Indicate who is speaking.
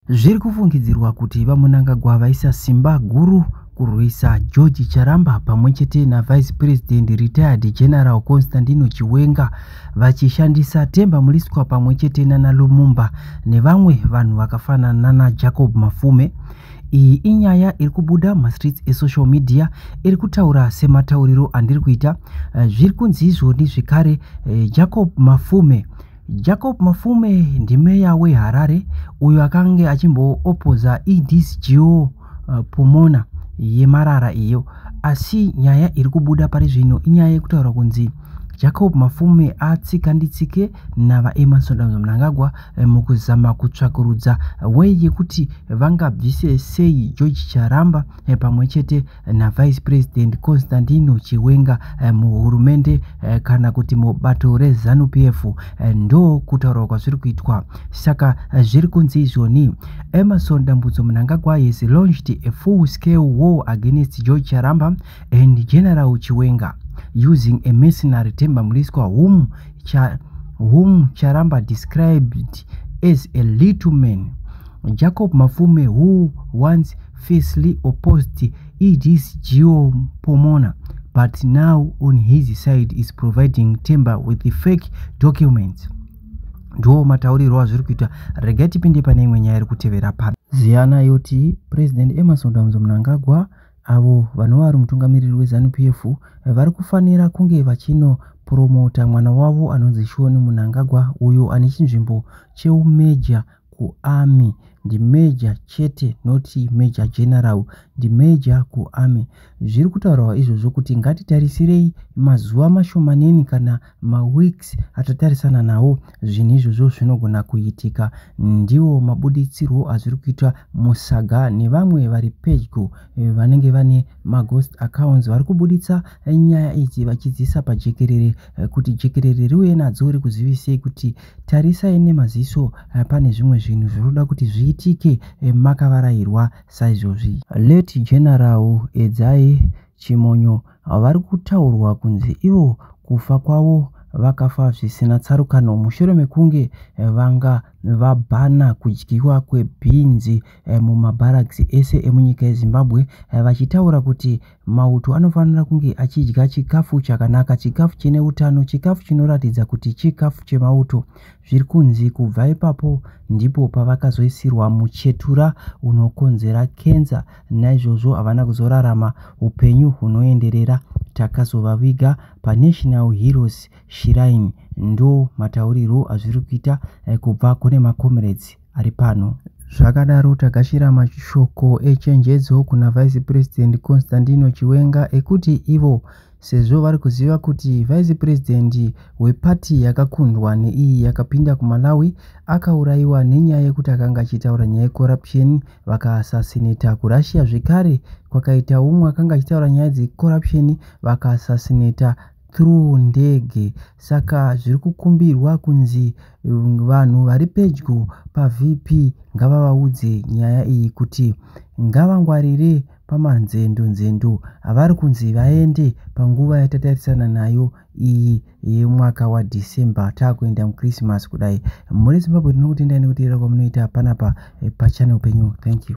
Speaker 1: Zviri kufungidzirwa kuti VaMunangagwa vaisa simba guru kurwisa George Charamba pamwe chete naVice President Retired General Constantino Chiwenga vachishandisa Themba Mliswa pamwe chete nana Lumumba nevamwe vanhu vakafanana nana Jacob Mafume. Iyi inyaya iri kubuda mumastreets esocial media iri kutaura sematauriro andiri kuita. Eh, zviri kunzi izvoni zvekare eh, Jacob Mafume Jacob Mafume ndimeya weHarare uyo akange achimboopodza EDCGO uh, eh, Pomona yemarara iyo asi nyaya iri kubuda pari zvino inyaya yekutaura kunzi Jacob Mafume atsika nditsike navaEmmerson Damza Mnangagwa eh, mukuzama kutsvakurudza wei yekuti vangabvise sei George Charamba eh, pamwe chete naVice President Constantino Chiwenga eh, muhurumende eh, kana kuti mubato reZanu PF eh, ndo kutaurwa kwazviri kuitwa saka zviri kunzi izvoni Emerson Dambudzo Mnangagwa has launched a full scale war against George Charamba and General Chiwenga using a mercenary Themba Mliswa whom, cha, whom Charamba described as a little man Jacob Mafume who once fiercely opposed ED's Geo Pomona, but now on his side is providing Temba with the fake documents. Ndiwo mataurirwo azviri kuita rega tipinde pane imwe nyaya iri kutevera pano. Ziyana yoti President Emerson Damzo Mnangagwa avo vanova vari mutungamiriri weZanu PF vari kufanira kunge vachino promota mwana wavo anonzi Shoni Munangagwa uyo ane chinzvimbo cheumeja kuarmy ndimajor chete not major general ndimajor kuarmy zviri kutaurwa izvozvo kuti ngatitarisirei mazuva mashomaneni kana maweeks atatarisana nawo zvinhu izvozvo zvinogona kuitika ndiwo mabuditsirwo azviri kuitwa musaga nevamwe vari pedyo eh, vanenge vane maghost accounts vari kubuditsa nyaya idzi vachidzisa pajekerere eh, kuti jekerere riuye nadzo rikuzivisei kuti tarisai nemaziso eh, pane zvimwe zvinhu zviri kuda kuti zviitike eh, makavarairwa saizvozvi let general edzai chimonyo vari kutaurwa kunzi ivo kufa kwavo vakafa zvisina tsarukano mushure mekunge eh, vanga vabhana kudyiwa kwebhinzi mumabharakisi ese emunyika yezimbabwe vachitaura kuti Mauto anofanira kunge achidya chikafu chakanaka, chikafu chine utano, chikafu chinoratidza kuti chikafu chemauto. Zviri kunzi kubva ipapo ndipo pavakazoisirwa muchetura unokonzera kenza, naizvozvo havana kuzorarama upenyu hunoenderera. Takazovaviga paNational Heroes Shrine, ndo mataurirwo azviri kuita eh, kubva kune maComrades. ari pano. Zvakadaro tagashira mashoko echenjedzo kuna Vice President Constantino Chiwenga ekuti ivo sezvo vari kuziva kuti Vice President wepati yakakundwa neiyi yakapinda kuMalawi akaurayiwa nenyaya yekuti akanga achitaura nyaya yecorruption vakaasasineta kuRussia zvekare kwakaita umwe akanga achitaura nyaya dzecorruption vakaasasineta through ndege saka zviri kukumbirwa kunzi mm, vanhu vari pedyo pavp ngavavaudze nyaya iyi kuti ngavangwarire pamanzendo nzendo avari kunzi vaende panguva yatatarisana nayo iyi yemwaka wadecember taakuenda muchristmas kudai muri zimbabwe tinokutendai nekuteerera kwamunoita panapa eh, pachanel penyu thank you